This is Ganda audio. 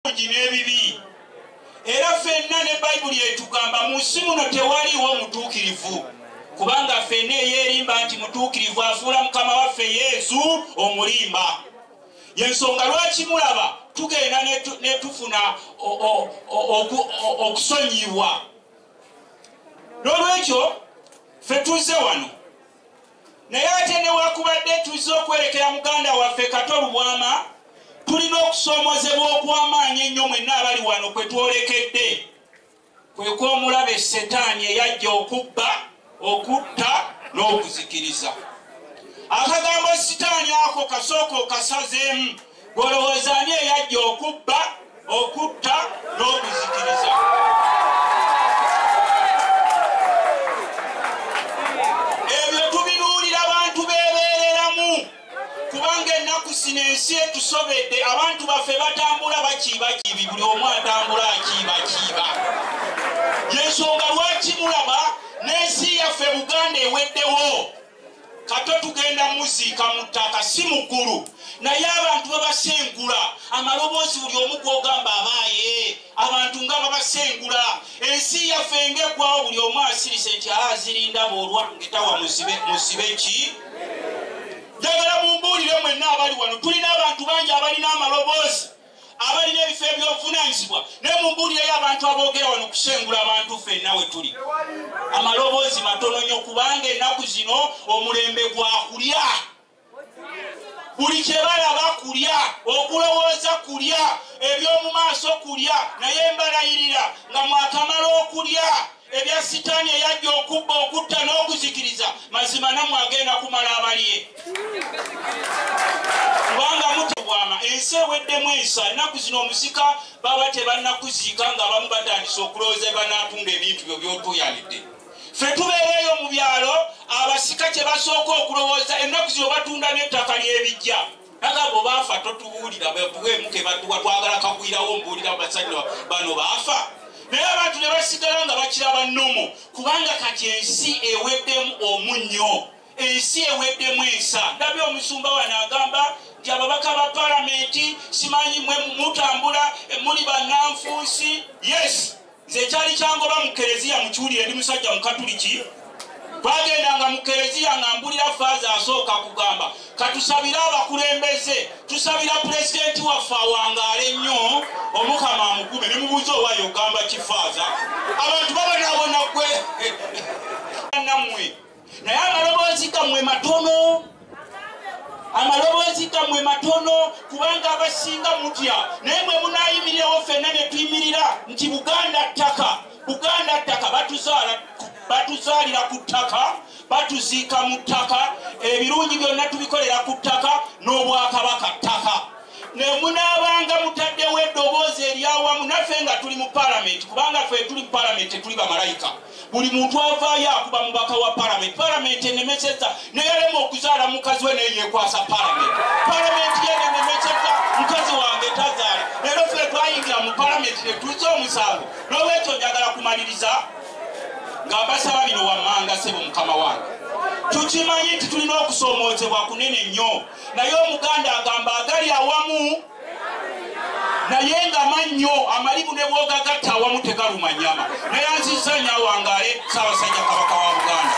ebirungi n'ebibi era fenna ne bayibuli etugamba mu nsi muno tewaliwo mutuukirivu kubanga fenna eyeerimba nti mutuukirivu afuula mukama waffe yesu omulimba yensonga lwaki mulaba tugenda netufuna okusonyibwa n'olwekyo fe tuzze wano Naye ate newakubadde tuzze okwerekera muganda waffe Kato Lubwama, tulina okusoomozebwa okw'amaanyi ennyo mwenna abali wano kwe twolekedde, kwe kw'omulabe Ssetaani eyajja okubba, okutta n'okuzikiriza. Akagambo Sitaani ako kasooka okasazeemu, ggwe olowooza ani eyajja okubba? okutta n'okuzikiriza. Ebyo tubinuulira bantu beebeereramu kubanga ennaku zino ensi etusobedde, abantu baffe batambula bakiibakiibi, buli omu atambula akiibakiiba. Y'ensonga lwaki mulaba n'ensi yaffe Buganda eweddewo. Kato tugenda muziika mu ttaka si mu ggulu. Naye abantu babasengula amaloboozi buli omu gw'ogamba abaaye. Abantu nga babasengula. Ensi yaffe nga eggwawo buli omu asirise nti aa ziri ndaba olwange tawa muzibe, muzibe ki? Njagala mumbuulire mwenna abali wano tulina abantu bangi abalina amaloboozi. abalina ebifo eby'obuvunaanyizibwa ne mu mbuulira y'abantu aboogera wano kusengula abantu ffenna we tuli amaloboozi matono nnyo kubanga ennaku zino omulembe gwa kulya buli kye balaba kulya okulowooza kulya eby'omu maaso kulya naye mbalayirira nga mwakamala okulya Ebya sitani eyajja okubba okutta n'okuzikiriza mazima namwe agenda kumala abaliye kubanga mutebwama ensi eweddemu ensa ennaku zino omusika baba tebannakuziika nga abamu batandise okulowooza ebanatunda ebintu byo byotuyanidde fe tubeera eyo mu byalo abasika kye basooka okulowooza ennaku zino batunda n'ettaka ly'ebijja Naga bo bafa totubuulira bwebuwemu kebatuwa twagala kagwirawo mbuulira basajja bano bafa naye abantu ne basigala nga bakiraba nomo kubanga kati ensi eweddemu omunnyo ensi eweddemu ensa ndabye omusumba wano agamba nti ababaka ba palamenti simanyi mwe mutambula muli bananfunsi yes Nze kyali kyangoba mu kereziya mukiwulire ndi musajja mukatuliki twagendanga mu kereziya nga mbulira faaza asooka kugamba katusabire abakulembeze tusabira pulezidenti waffe awangaale nnyo omukama amugume ne mubuuza owayo ogamba kifaaza abantu babonabona gwe nammwe naye amaloboozi gammwe matono amaloboozi gammwe matono kubanga abasinga mutya naye mwe munayimirirewo fenna ne tuyimirira nti buganda ttaka buganda ttaka batuzaalira ku ttaka batuziika mu ttaka ebirungi byonna tubikolera ku ttaka n'obwakabaka ttaka nemunaabanga mutaddewo eddoboozi eryawamu naffe nga tuli mu palamenti kubanga fe tuli mu palamenti tetuli bamalayika Buli muntu avaayo akuba mubaka wa parliament. Parliament enemeseza neyalema okuzaala mukazi we naye yekwasa parliament. Parliament yena enemeseza mukazi wange tazaale. Lero ffe twayingira mu parliament netuuza omusango. Nolwekyo njagala kumaliriza nga mbasaba bino wammanga sebo mukama wange. Tukimanyi nti tulina okusoomoozebwa kunene nnyo naye omuganda agamba agali awamu. naye nga mannyo amalibu ne bwogagatta awamu tegaluma nyama neyanzizza nyo awangaale saabasajja kabaka wa buganda